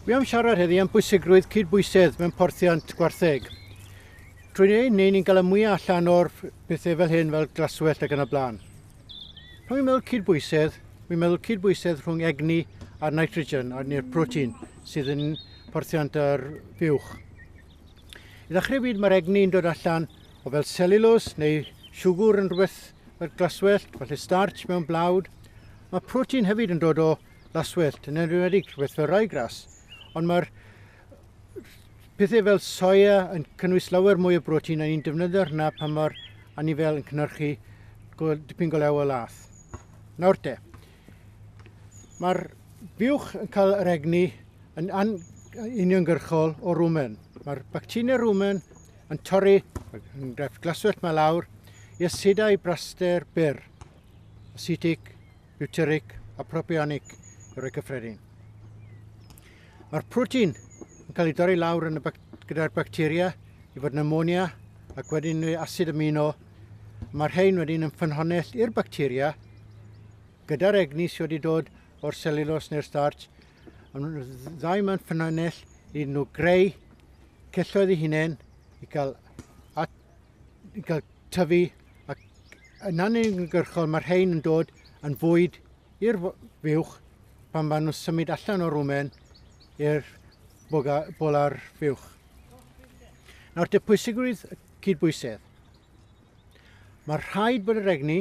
Mi am siarad heddi am bwysigrwydd cydbwysedd mewn porthiant gwartheg. Trwy ei wneud ni'n gael y mwyaf allan o'r pethau fel hyn fel glaswellt ac yn y blaen. Pan fi'n meddwl cydbwysedd, fi'n meddwl cydbwysedd rhwng egni a'r nitrogen a'r neu'r protein sydd yn porthiant yr buwch. I ddechrau fyd mae'r egni yn dod allan o fel selulose neu siwgr yn rhywbeth fel glaswellt, falle starch mewn blawd. Mae protein hefyd yn dod o laswellt yn enwedig rhywbeth fel ryegrass ond mae'r pethau fel soia yn cynnwys lawer mwy o brotein a ni'n defnyddio hwnna pan mae'r anifel yn cynhyrchu dipyn go lew o lath. Nawr te, mae'r buwch yn cael yr egni yn uniongyrchol o rwmen. Mae'r bacteria rwmen yn torri, yn glaswellt mae lawr, i asidau braster byr. asetig, butyrig a propionic i roi cyffredin. Mae'r protein yn cael ei dorri lawr yn y bac gyda'r bacteria i fod yn amonia ac wedyn yn asid amino. Mae'r rhain wedyn yn ffynhonnell i'r bacteria gyda'r egni sydd wedi dod o'r selulos neu'r starch. Ddau mae'n ffynhonnell iddyn nhw greu celloedd eu hunain i gael at ni'n cael tyfu ac yn anunigyrchol mae'r rhain yn dod yn fwyd i'r fuwch pan maen nhw'n symud allan o'r wmen i'r bola'r fuwch. Nawr, dy pwysigrwydd y cydbwysedd. Mae rhaid bod yr egni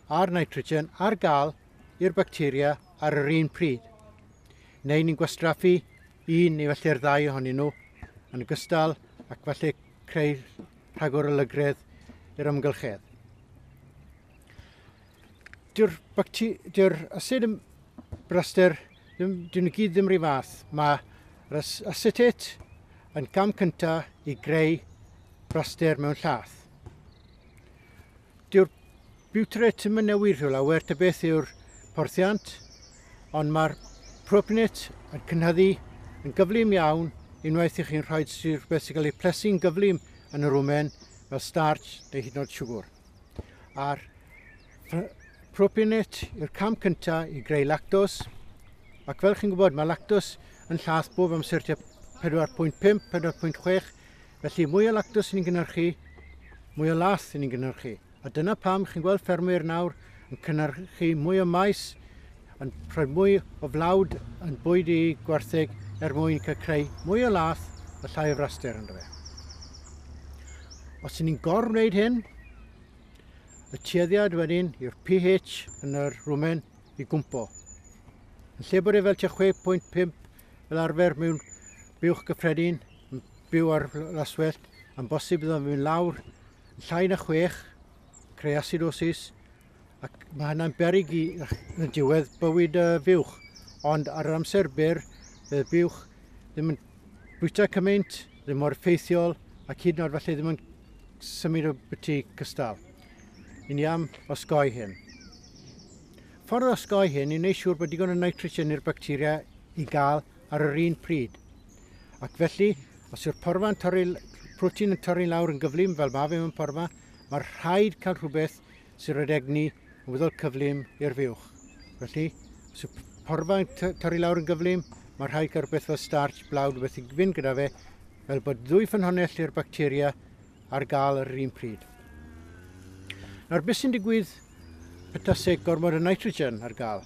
a'r nitrogen ar gael i'r bacteria ar yr un pryd, neu ni'n gwastraffu un neu felly'r ddau ohonyn nhw yn ogystal ac felly creu rhagor o lygredd i'r amgylchedd. Dyw'r, dyw'r asid yn braster, ddim, dyn nhw gyd ddim rhy fath. Mae'r asetet yn cam cyntaf i greu braster mewn llath. Dyw'r Butret ddim yn newid o lawer ta beth yw'r porthiant, ond mae'r Propnet yn cynhyddu yn gyflym iawn unwaith i chi'n rhoi rhywbeth sy'n cael ei plesu'n gyflym yn yr wmen fel starch neu hyd yn oed siwgr. A'r Propnet yw'r cam cyntaf i greu lactos, ac fel chi'n gwybod mae lactos yn llath bob amser tua 4.5, 4.6 Felly, mwy o lactws i ni'n gynhyrchu, mwy o lath i ni'n gynhyrchu. A dyna pam chi'n gweld ffermwyr nawr yn cynhyrchu mwy o maes, yn rhoi mwy o flawd yn bwyd i gwartheg er mwyn cael creu mwy o lath a llai o fraster yn fe. Os ydyn ni'n gor wneud hyn, y tueddiad wedyn yw'r pH yn yr rwmen i gwmpo. Yn lle bod e fel 6.5 fel arfer mewn buwch gyffredin, yn byw ar laswellt, yn bosib iddo fynd lawr llai na chwech, creu asidosis, ac mae hynna'n berig i yn y diwedd bywyd y fuwch. Ond ar yr amser byr, fe buwch ddim yn bwyta cymaint, ddim mor ffeithiol, ac hyd yn oed falle ddim yn symud o byti cystal. Yn ni am osgoi hyn. Ffordd osgoi hyn i wneud siŵr bod digon o nitrogen i'r bacteria i gael ar yr un pryd. Ac felly, os yw'r porfa yn torri, protein yn torri lawr yn gyflym fel mae fe mewn porfa, mae'r rhaid cael rhywbeth sy'n rhaid egni yn wyddol cyflym i'r fuwch. Felly, os yw porfa yn torri lawr yn gyflym, mae'r rhaid cael rhywbeth fel starch, blawd, rhywbeth i fynd gyda fe, fel bod ddwy ffynhonnell i'r bacteria ar gael ar yr un pryd. Nawr, beth sy'n digwydd petaseg gormod o nitrogen ar gael?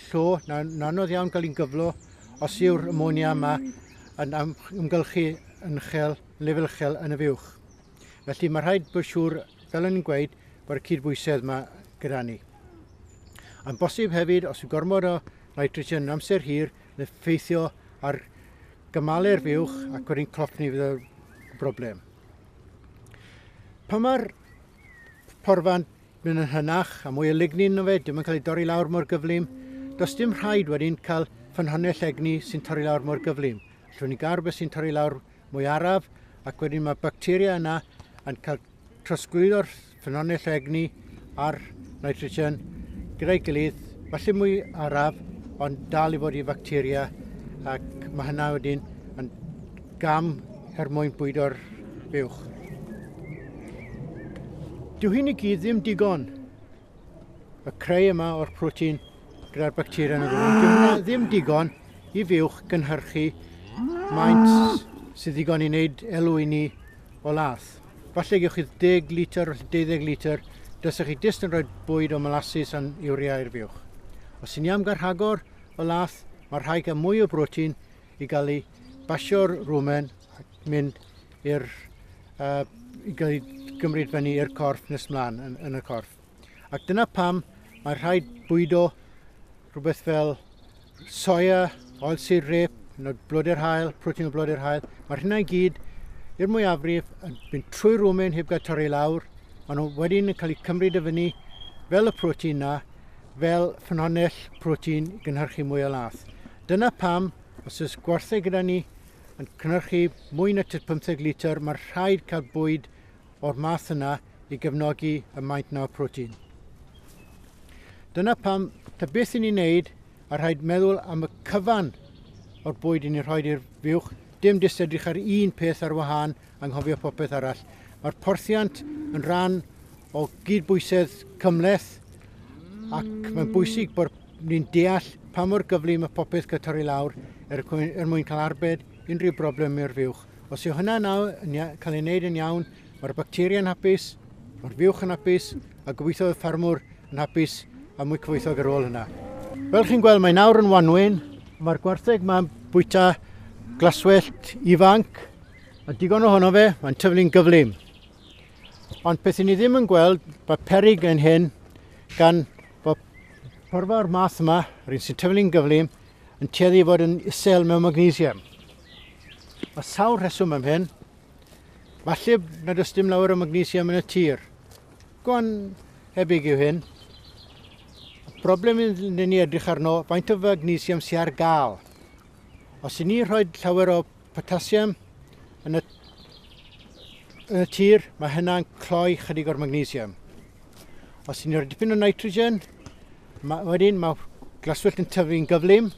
Llo, na, yn anodd iawn cael un gyflo os yw'r amonia yma yn ymgylchu yn uchel, yn lefel uchel yn y fuwch. Felly mae rhaid bod siŵr, fel yn gweud, bod y cydbwysedd yma gyda ni. Yn bosib hefyd, os yw gormod o nitrogen yn amser hir, yn effeithio ar gymalu'r fuwch ac wedyn clotni fydd y broblem. Pan mae'r porfan Mae'n yn hynach, a mwy o lignin yn fe, dim yn cael ei dorri lawr mor gyflym. Does dim rhaid wedyn cael ffynhonnell egni sy'n torri lawr mor gyflym. Allwn ni gael rhywbeth sy'n torri lawr mwy araf, ac wedyn mae bacteria yna yn cael trosglwyddo'r ffynhonnell o egni a'r nitrogen gyda'i gilydd, falle mwy araf, ond dal i fod i facteria, ac mae hynna wedyn yn gam er mwyn bwydo'r uwch. Dyw hyn i gyd ddim digon. Y creu yma o'r protein gyda'r bacteria yn y rhwng, dyw hwnna ddim digon i fiwch gynhyrchu maint sydd ddigon i wneud elw i ni o lath. Falle gewch chi 10 litr, 12 litr, dysach chi dist yn rhoi bwyd o molasses a'n iwria i'r fiwch. Os sy'n ni am garhagor o lath, mae'r rhai gan mwy o brotein i gael ei basio'r rwmen ac mynd i'r uh, i gael ei gymryd fyny i'r corff nes mlaen yn, yn y corff. Ac dyna pam mae rhaid bwydo rhywbeth fel soia, oil syr rep, neu blode'r hael, protein o blode'r hael. Mae'r hynna i gyd i'r mwyafrif yn mynd trwy rwmen heb gael torri lawr, a nhw wedyn yn cael eu cymryd y fyny fel y protein na, fel ffynhonnell protein gynhyrchu mwy o lath. Dyna pam, os oes gwartheg gyda ni yn cynhyrchu mwy na tud 15 litr, mae'n rhaid cael bwyd o'r math yna i gefnogi y maint na'r protein. Dyna pam, ta beth i ni'n neud, a rhaid meddwl am y cyfan o'r bwyd i ni'n rhoi i'r fuwch, dim jyst edrych ar un peth ar wahân, anghofio popeth arall. Mae'r porthiant yn rhan o gydbwysedd cymleth ac mae'n bwysig bod ni'n deall pa mor gyflym y popeth cael torri lawr er, er mwyn cael arbed unrhyw broblem i'r fuwch. Os yw hynna nawr yn cael ei wneud yn iawn, mae'r bacteria'n hapus, mae'r fuwch yn hapus a gobeithio y ffarmwr yn hapus a mwy cyfoethog ar ôl hynna. Fel chi'n gweld, mae nawr yn wanwyn. Mae'r gwartheg ma'n bwyta glaswellt ifanc Mae digon ohono fe, mae'n tyfu'n gyflym. Ond beth i ni ddim yn gweld, mae perig yn hyn gan fod porfa o'r math yma, yr un sy'n tyfu'n gyflym, yn tueddu i fod yn isel mewn magnesium. Mae sawl rheswm am hyn. Falle na does dim lawer o magnesium yn y tir. Gwan hebyg yw hyn. Y broblem yn ni edrych arno, faint o magnesium sy'n ar gael. Os i ni rhoi llawer o Potassium yn y, yn y tir, mae hynna'n cloi chydig o'r magnesium. Os ti'n rhoi dipyn o nitrogen, ma, wedyn mae glaswellt yn tyfu'n gyflym.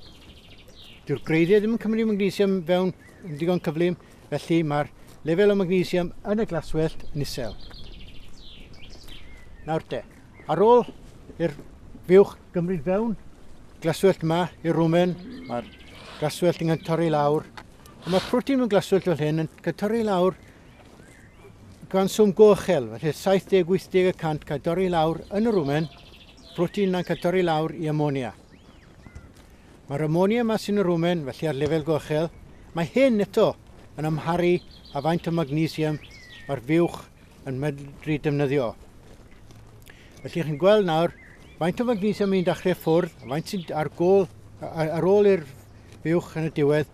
Dyw'r gwreiddiau ddim yn cymryd magnesium fewn yn ddigon cyflym, felly mae'r lefel o magnesium yn y glaswellt yn isel. Nawr te, Ar ôl i'r buwch gymryd fewn, glaswellt yma i'r rwmen, mae'r glaswellt yn torri i lawr. A mae'r protein mewn glaswellt fel hyn yn cael torri i lawr gan swm gochel, felly 70-80 y cant cael torri i lawr yn y rwmen, protein yna'n cael torri i lawr i amonia. Mae'r amonia yma sy'n y rwmen, felly ar lefel gochel, mae hyn eto yn amharu a faint o magnesium mae'r fuwch yn medru defnyddio. Felly chi'n gweld nawr faint o magnesium ni'n dachrau ffwrdd, faint sy'n ar, gol, ar ôl i'r fuwch yn y diwedd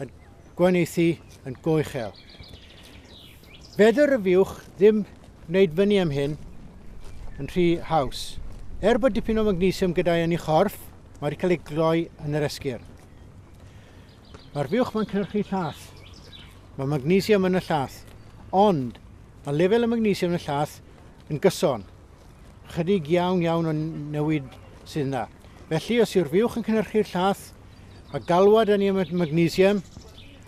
yn gweineithi yn go uchel. Fedr y fuwch ddim wneud fyny am hyn yn rhy haws. Er bod dipyn o magnesium gyda'i yn ei chorff, mae wedi cael ei gloi yn yr esgyrn. Mae'r fuwch mae'n cynhyrchu llall. Mae magnesium yn y llath, ond mae lefel y magnesium yn y llath yn gyson. Chydig iawn iawn o newid sydd yna. Felly, os yw'r fiwch yn cynhyrchu'r llath, mae galwad yn y magnesium,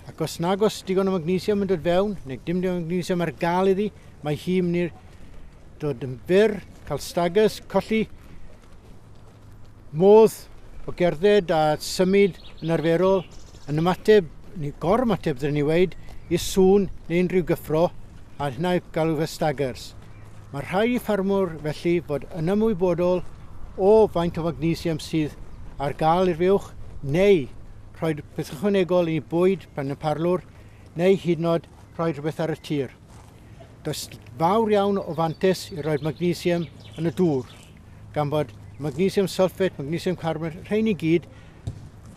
ac os nag os digon o magnesium yn dod fewn, neu dim digon o magnesium ar gael iddi, mae hi'n mynd i'r dod yn byr, cael stagus, colli Modd o gerdded a symud yn arferol yn ymateb, neu gor-ymateb ddylen ni weud, i sŵn neu unrhyw gyffro, a hynna yw galw fe staggers. Mae rhaid i ffarmwr felly fod yn ymwybodol o faint o fagnesium sydd ar gael i'r fuwch neu rhoi rhywbeth ychwanegol i bwyd pan y parlwr neu hyd yn oed rhoi rhywbeth ar y tir. Does fawr iawn o fantes i roi'r magnesium yn y dŵr. gan fod magnesium sulfate, magnesium carbonate, rhain i gyd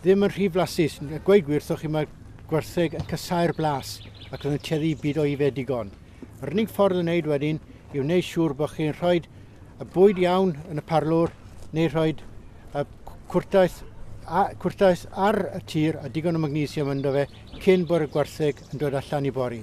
ddim yn rhy flasus. A gweud gwir, thoch chi mae gwertheg yn casau'r blas ac yn teddu byd o ife digon. Yr unig ffordd yn wneud wedyn i wneud siŵr bod chi'n rhoi y bwyd iawn yn y parlwr neu rhoi y cwrtaeth, a, cwrtaeth ar y tir a digon o magnesium ynddo fe cyn bod y gwartheg yn dod allan i bori.